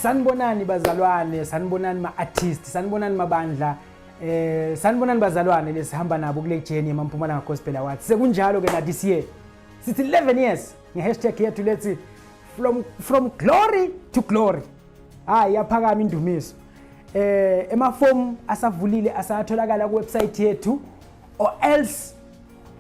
sanibonani bazalwane sanibonani ma-artist sanibonani mabandla eh sanibonani bazalwane lesihamba nabo kule jeni yemampumalanga gospel awards sekunjalo ke na this year sithi 11 years ngehashtag yethu lethi from, from glory to glory hayi yaphakama indumiso eh emafomu asavulile asatholakala kuwebsite yethu or else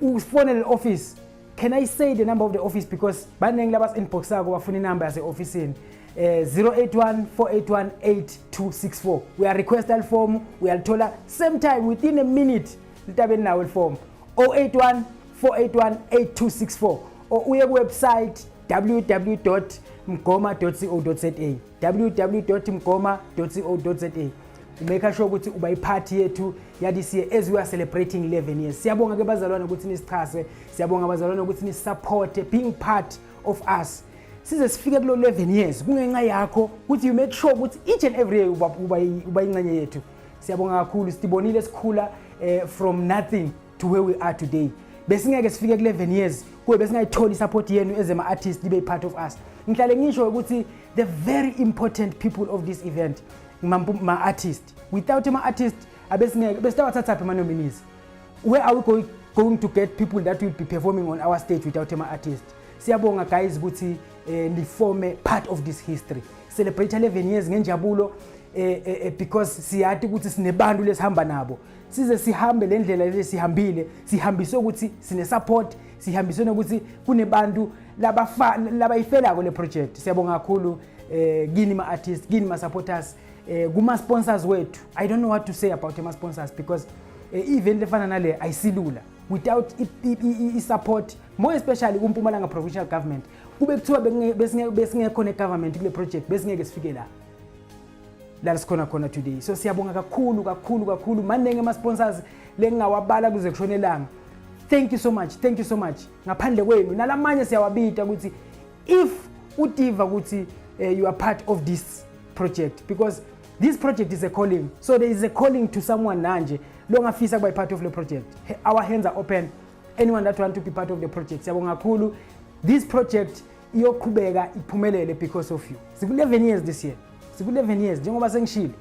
ufonele office can i say the number of the office because baningi labas inboxako bafuna inumber yase-ofisini um eh, 081 481 8264 uyarequesta lifomu uyalithola same time within a minute litabe linawo lifomu 081 481 8264 or uye kuwebsite www mgoma co za www.mgoma.co.za umeka sure ukuthi uba iphathi yethu yadis year as we are celebrating 11 years siyabonga ke bazalwane ukuthi nisichase siyabonga bazalwane ukuthi nisisupporte being part of us size sifike kulo 11 years kungenxa yakho ukuthi you make sure ukuthi each and every year uba ingxenye yethu siyabonga kakhulu sitibonile sikhula eh, from nothing to where we are today besingeke sifike ku-11 years kuwe besingayitholi i-support yenu ezema-artist libe i-part of us ngihlale ngisho ukuthi the very important people of this event ma-artist without ama-artist abesingeke besitawathathaphi ama-nominees where are we going, going to get people that will be performing on our stage without ama-artist siyabonga guys ukuthi eh, nifome part of this history celebrate 11 years ngenjabulo eh, eh, eh, because siyati ukuthi sinebantu lesihamba nabo size sihambe le ndlela le sihambile sihambiswe ukuthi sine-support sihambiswe nokuthi kunebantu labayifelako le project siyabonga kakhulu um eh, kini ma-artist kini ma-supporters um eh, kuma-sponsors wethu i don't know what to say about ama-sponsors because um eh, i-event lefana nale ayisilula without i-support more especially kumpumalanga provincial government kube kuthiwa besingekho ne-government kule project besingeke sifike la la sikhona khona today so siyabonga kakhulu kakhulu kakhulu maningi ama-sponsors lengingawabala kuze kushone elanga thank you so much thank you so much ngaphandle kwenu nalamanye siyawabita ukuthi if utiva ukuthi uh, you are part of this project because this project is a calling so there is a calling to someone nanje longafisa kuba part of the project our hands are open anyone that want to be part of the project siyabonga kakhulu this project iyoqhubeka iphumelele because of you siku-11 years this year siku-11 years njengoba sengishilo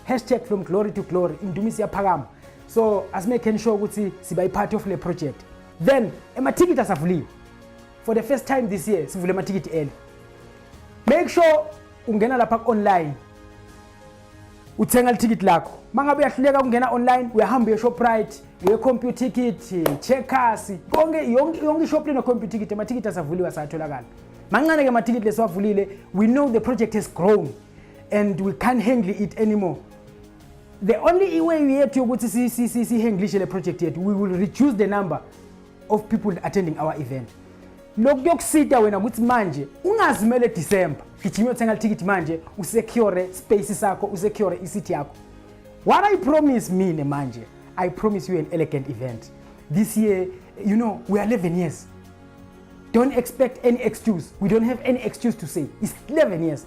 hashtag from glory to glory indumiso iyaphakama so asimekheni sure ukuthi siba i-part of le project then emathikithi asavuliwe for the first time this year sivule amathikithi eli make sure ungena lapha ku-online uthenga lithikithi lakho mangabe uyahluleka ukungena online uyahamba uye shoprite uye computer ticket checkers konke yonke ishop lino computer ticket amathikithi asavuliwe asatholakala mancane ke amathikithi lesiwavulile we know the project has grown and we can't handle it anymore the only way yethu yokuthi sihenglishe le project yethu we will reduce the number of people attending our event lokhu kuyokusita wena ukuthi manje ungazimele December gijima uthenga ithikithi manje usecure space sakho usecure isithi yakho what i promise mina manje i promise you an elegant event this year you know we are 11 years don't expect any excuse we don't have any excuse to say it's 11 years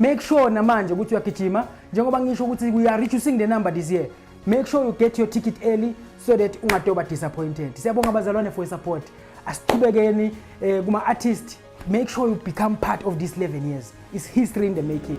Make sure namanje ukuthi uyagijima njengoba ngisho ukuthi we are reducing the number this year. Make sure you get your ticket early so that ungatoba disappointed. Siyabonga bazalwane for support. Asiqhubekeni eh, kuma artist. Make sure you become part of this 11 years. It's history in the making.